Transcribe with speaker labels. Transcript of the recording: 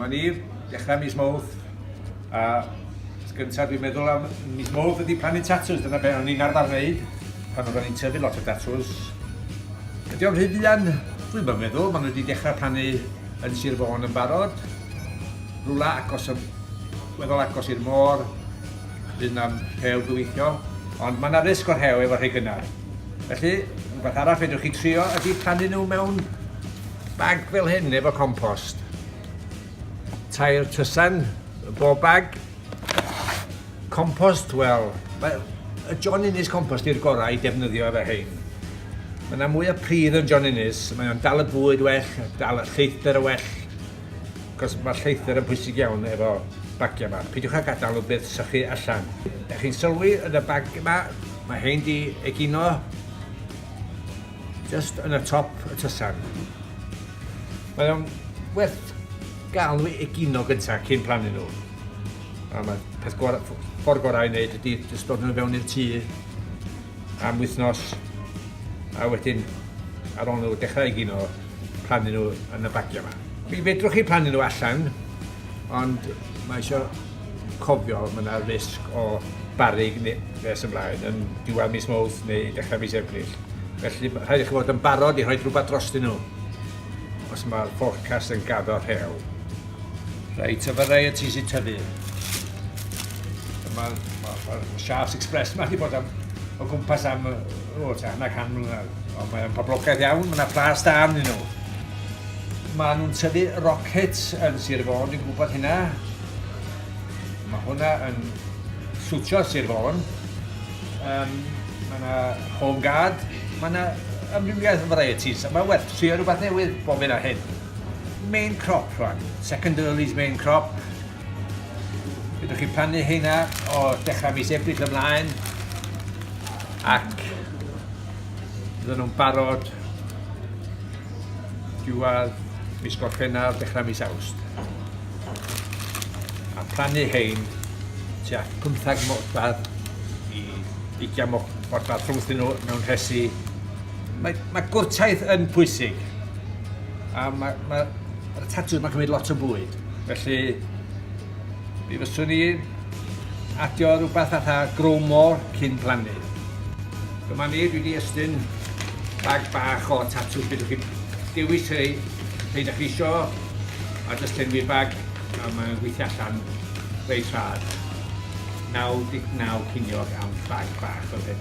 Speaker 1: Dyma ni, dechrau mis Mawrth, a gyntaf dwi'n meddwl am mis Mawrth ydy plannu tatws, dyna beth o'n i'n arfer wneud pan oeddwn i'n tyfu lot o tatws. Ydy o'n rhy fuan? Dwi'n bod meddwl, maen nhw wedi dechrau plannu yn Sir Fôn yn barod, rhywle agos, weddol agos i'r môr, bydd yna rhew gyweithio, ond mae yna risg o'r rhew efo rhai gynnar. Felly, rhywbeth arall fedrwch chi trio ydy plannu nhw mewn bag fel hyn, efo compost. Tair tysan, bob bag. Compost, wel, mae y John Innes compost i'r gorau i defnyddio efo hyn. Mae yna mwy o pridd yn John Innes, mae o'n dal y bwyd well, dal y lleithder o well, Cos mae lleithder yn bwysig iawn efo bagiau yma. Peidiwch â gadael o byth sychu allan. Dych chi'n sylwi yn y bag yma, mae hein di egino just yn y top y tysan. Mae o'n werth gael nhw egino gyntaf cyn plannu nhw. A mae peth gorau, ffordd gorau i wneud ydy jyst dod nhw fewn i'r tŷ am wythnos a wedyn ar ôl nhw dechrau egino plannu nhw yn y bagiau yma. Mi fedrwch chi plannu nhw allan, ond mae eisiau cofio mae yna risg o barig nes ymlaen yn diwedd mis Mawrth neu dechrau mis Ebrill. Felly rhaid i chi fod yn barod i rhoi rhywbeth drostyn nhw os mae'r forecast yn gaddo rhew. Reit, y varieties i tyfu. Mae'r ma, ma, Shafts Express yma wedi bod am, o gwmpas am o, ta, hanner can mlynedd. Ond mae'n poblogaidd iawn, mae yna plas da arnyn nhw. Mae nhw'n tyfu rockets yn Sir Fôn, dwi'n gwybod hynna. Mae hwnna yn swtio Sir Fôn. Um, mae yna home guard, mae yna amrywiaeth o varieties. Mae werth trio rhywbeth newydd bob hyn a hyn. main crop rwan, second early's main crop. Ydych chi'n plannu hynna o dechrau mis Ebrill ymlaen ac fydden nhw'n barod diwedd mis Gorffennaf, dechrau mis Awst. A plannu hein tua 15 modfadd i 20 modfadd rhwngthyn nhw mewn rhesi Mae, mae gwrtaith yn pwysig. A mae, mae, mae'r tatws mae'n cymryd lot o bwyd. Felly, mi fyswn i adio rhywbeth fatha grow more cyn plannu. Dyma ni, dwi wedi estyn bag bach o tatws. Bydwch chi dewis rhai, rhai da chi isio, a jyst enwi bag, a mae'n gweithio allan reit rhad. 99 ciniog am bag bach o ddim.